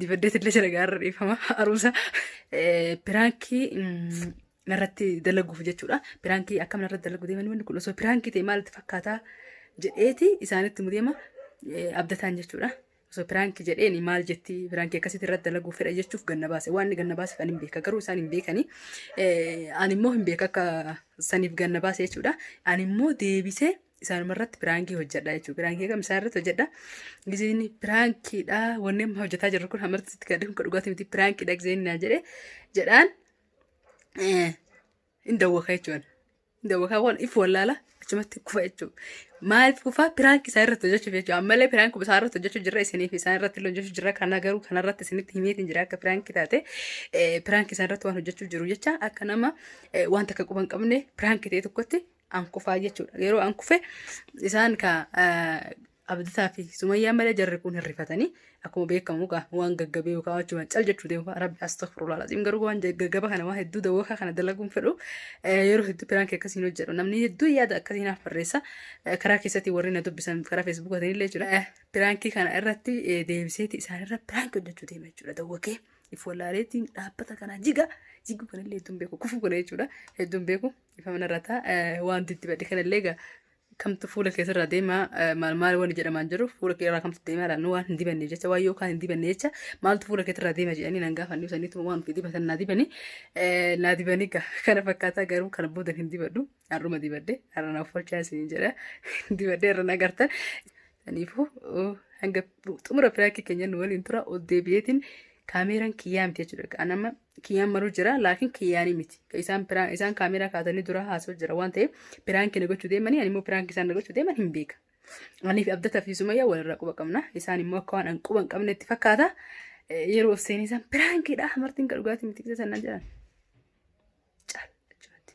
Dibaddeet illee jira gaarra dhiifama haruusa. Piraankii narratti dalaguuf jechuudha. Piraankii akkam narratti dalagu deeman wanni kun osoo piraankii ta'e maalitti fakkaataa jedheeti isaanitti mudeema abdataan jechuudha. Osoo piraankii jedheeni maal jetti piraankii akkasitti irratti dalaguuf fedha jechuuf ganna baase. Waan inni ganna baase kan hin beeka garuu isaan hin beekani. Ani immoo hin beeka akka saniif ganna baase jechuudha. Ani immoo deebisee isaanuma irratti piraankii hojjedha jechuudha. Piraankii kam isaan irratti hojjedha. Gizeen piraankiidha wanni amma hojjetaa jirru kun hamarti itti gadhee kun dhugaatii miti piraankiidha gizeen naa jedhe jedhaan hin dawwaka jechuudha. Hin dawwaka waan if wallaala achumatti kufa jechuudha. Maaliif kufa piraanki isaa irratti hojjechuuf jechuudha. Ammallee piraanki isaa irratti hojjechuu jirra isiniif isaa irratti illee hojjechuu jirra kana garuu kana irratti isinitti himeetiin jira akka piraanki taate piraanki isaa irratti waan hojjechuu jiru jecha akka nama wanta akka quban qabne piraanki ta'e tokkotti an kufaa jechuudha. Yeroo an kufe isaan ka abdataa fi sumayyaa malee jarri kun hin rifatanii akkuma beekamu gaa waan gaggabee yookaan wajjuma cal jechuu deemu fa'a rabbi astaghfirullah laziim garuu waan gaggaba kana waan hedduu dawwakaa kana dalaguun fedhu yeroo hedduu piraanki akkasiin hojjedhu namni hedduu yaada akkasiin haaf barreessa karaa keessatti warri na dubbisan karaa feesbuuka ta'inillee jechuudha piraankii kana irratti deebiseeti isaan irra piraanki hojjechuu deema jechuudha dawwakee if wallaaleetiin dhaabbata kana jiga jiguu kanallee hedduun beeku kufuu kana jechuudha hedduun beeku Ifamna irra taa wanti itti badhe kanallee egaa kamtu fuula keessa irraa deema eh, maal maal wanni jedhamaan jiru fuula kee irraa kamtu deema laannu waan hin dibanne jecha waan yookaan hin dibanne jecha maaltu fuula keessa irraa deema jedhanii nan gaafanne isaniitu waan ofii dibatan naa dibani eh, naa dibani gaa kana fakkaataa garuu kana booda hin dibadhu har'uma dibadhe har'a naaf folchaa isin jedha dibadhe irra na gartan saniifuu oh, hanga xumura firaakii keenya nu waliin tura ol deebi'eetiin kaameeraan kiyyaa miti jechuudha anama Kiyyaan maruu jira laakiin kiyyaanii miti. Isaan piraan isaan kaameeraa kaasanii dura haasoo jira waan ta'eef piraankii na gochuu deemanii ani immoo piraankii isaan na gochuu deeman hin beeka. Anii fi Abdataa fi Sumayyaa walirraa quba qabna. Isaan immoo akka waan an quba hin qabnetti fakkaata. Eh, Yeroo of seenee isaan piraankiidha martiin kan dhugaatii miti kisa sannaan jedhan. Caal jechuudha.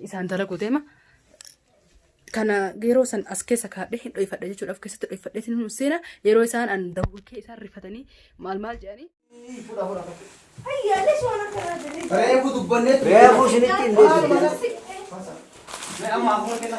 isaan dalagu deema. Kana yeroo san as keessa kaadhee hin dhoofadha jechuudha. Of keessatti dhoofadhee hin seena. Yeroo isaan an dawwakee isaan rifatanii maal maal jedhanii. Reefu dubbannee ture. Reefu isinitti hin deebiin. Amma amma kenna.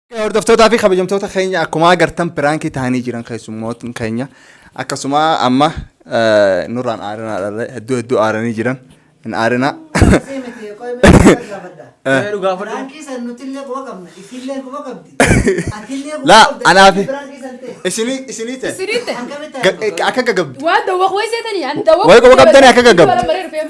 Hordoftootaa fi kabajamtoota keenya akkuma agartan piraankii ta'anii jiran keessummootni keenya akkasuma amma eh, nurraan aarinaa dharree hedduu hedduu aaranii jiran hin aarinaa. Mee dhugaa fudhu. Laa anaa fi isinii isinii ta'e Siriitte. ga- akka gagabdu. Waan dawwaq wayii seetanii ani dawwaq. Wayii qofa qabdanii akka gagabdu. Bara baree dhufeera.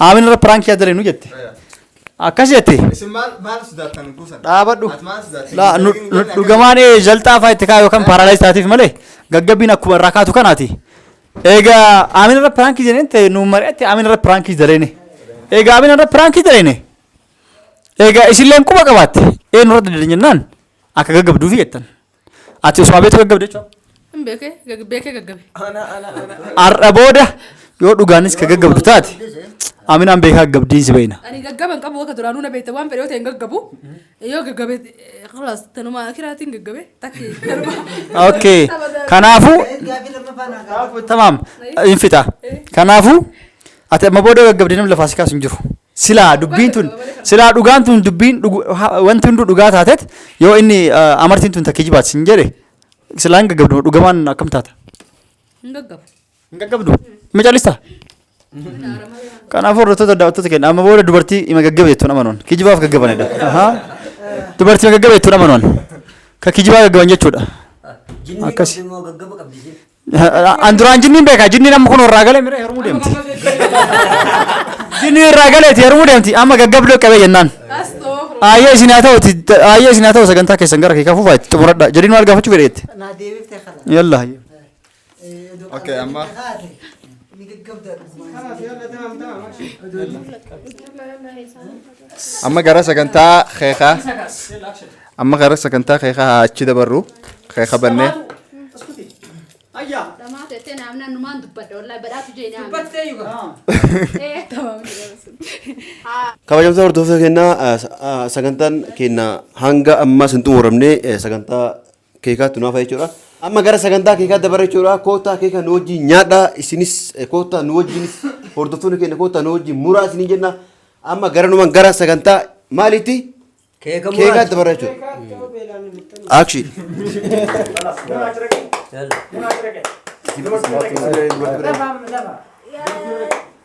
Aamin irra piraanki yaa dalinu jette. Akkas jette. Isin maal maal sodaattan kuusan? Dhaabadhu. Ati maal sodaattan? Laa, nu- nu- Dhugamaan ee jalxaa fa'aa itti kaa'u yookaan paaraalaayis taatiif malee gaggabbiin akkuma irraa kaatu kanaati. Egaa aamin irra piraanki jedheen ta'e nu mari'atti aamin irra piraanki daleene. Egaa aamin irra piraanki daleene. Egaa isinleen quba qabaatte eenyu irra dandeenye jennaan akka gaggabduufi jettan. Ati osoo abeetu gaggabde jechuudha. Hin beekee gag- beekee gaggabe. Har'a booda yoo dhugaanis ka gaggabdu taate aminaan beekaa gaggabdiin si beekna. Ani gaggaba hin qabu akka duraanuu na beekte waan fedhe yoo ta'e hin gaggabu. Yoo gaggabe kalaas tanuma akiraatiin gaggabe takki tanuma. Okay. Kanaafuu Gaafii lammaffaa naa gaafadhu. tamaam hin fixa. Kanaafuu Ati amma booda gaggabdee namni lafaa si kaasu hin jiru. Silaa dubbiin tun silaa dhugaan tun dubbiin dhugu- ha- wanti hunduu dhugaa taatet yoo inni ah, amartiin tun takkee jibaat sin jedhe silaa hin gaggabdu dhugamaan akkam taata? Hin gaggabu. Hin gaggabdu? Ima callista? Kanaafuu hordoftoota daawwattoota keenya amma booda dubartii ima gaggabe jettuun amanuun kijibaaf gaggabanidha. Ahaa. Dubartii ima gaggabe jettuun amanuun ka kijibaa gaggaban jechuudha. Akkasi. An duraan jinniin beekaa jinniin amma kun irraa galee mira heerumuu deemti. Jinniin irraa galeeti heerumuu deemti amma gaggabdoo qabee jennaan. Ayyee isin haa ta'uti ayyee isin haa ta'u sagantaa keessan gara kee kafuufaa itti xumuradha jedhiin maal gaafachuu fedheetti. Naa deebiftee kana. Yalla. Okay, amma- Ni gaggabdaa dhugumaan. Amma gara sagantaa keekaa amma gara sagantaa keekaa haa achi dabarru keeka bannee Dhamaa teessee naaf naannumaan dubbadha wallaahi badhaatu jee naaf. Dubbattee yuga. kabajamtoota hordoftoota keenyaa sagantaan keenya hanga ammaa sin xumuramne sagantaa keekaattu naafa jechuudha. Amma gara sagantaa keekaa dabarra jechuudha. Koottaa keeka nu wajjin nyaadhaa isinis eh, koottaa nu wajjinis hordoftoonni keenya koottaa nu wajjin muraa isiniin jenna. Amma garanumaan gara sagantaa maaliitti Keeka keekaa muraati. dabarra jechuudha. Action. Yalla. Lama, lama.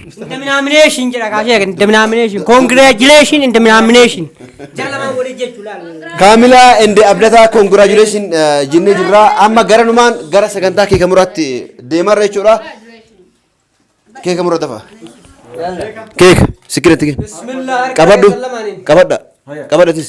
Indemnamination jedha kaasee eegan indemnamination congratulation indemnamination jara lamaan waliin jechuu laal. Kaamilaa ende abdataa congratulation eh, jennee jirra. Amma gara numaan gara sagantaa keeka muraatti deemarra jechuudha. Keeka mura dafa. Keeka sikkiratti kenna. Bismillah harka Qabadhu. keessan lamaaniin. Qabadha. Qabadhatis.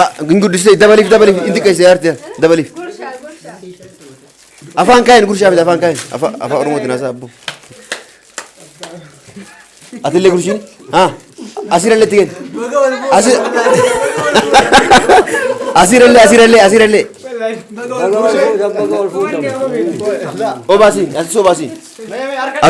Ah, hin guddisne dabaliif dabaliif hin xiqqeesse yaarte dabaliif. Afaan kaa'in gurshaa fide afaan kaa'in afaan afaan oromootiin haasaa abbo. Atillee gurshiin haa asirallee itti kenni. Asi- Asirallee asirallee asirallee. Baga wal fuudhan, baga wal fuudhan. Obaasi asii obaasi.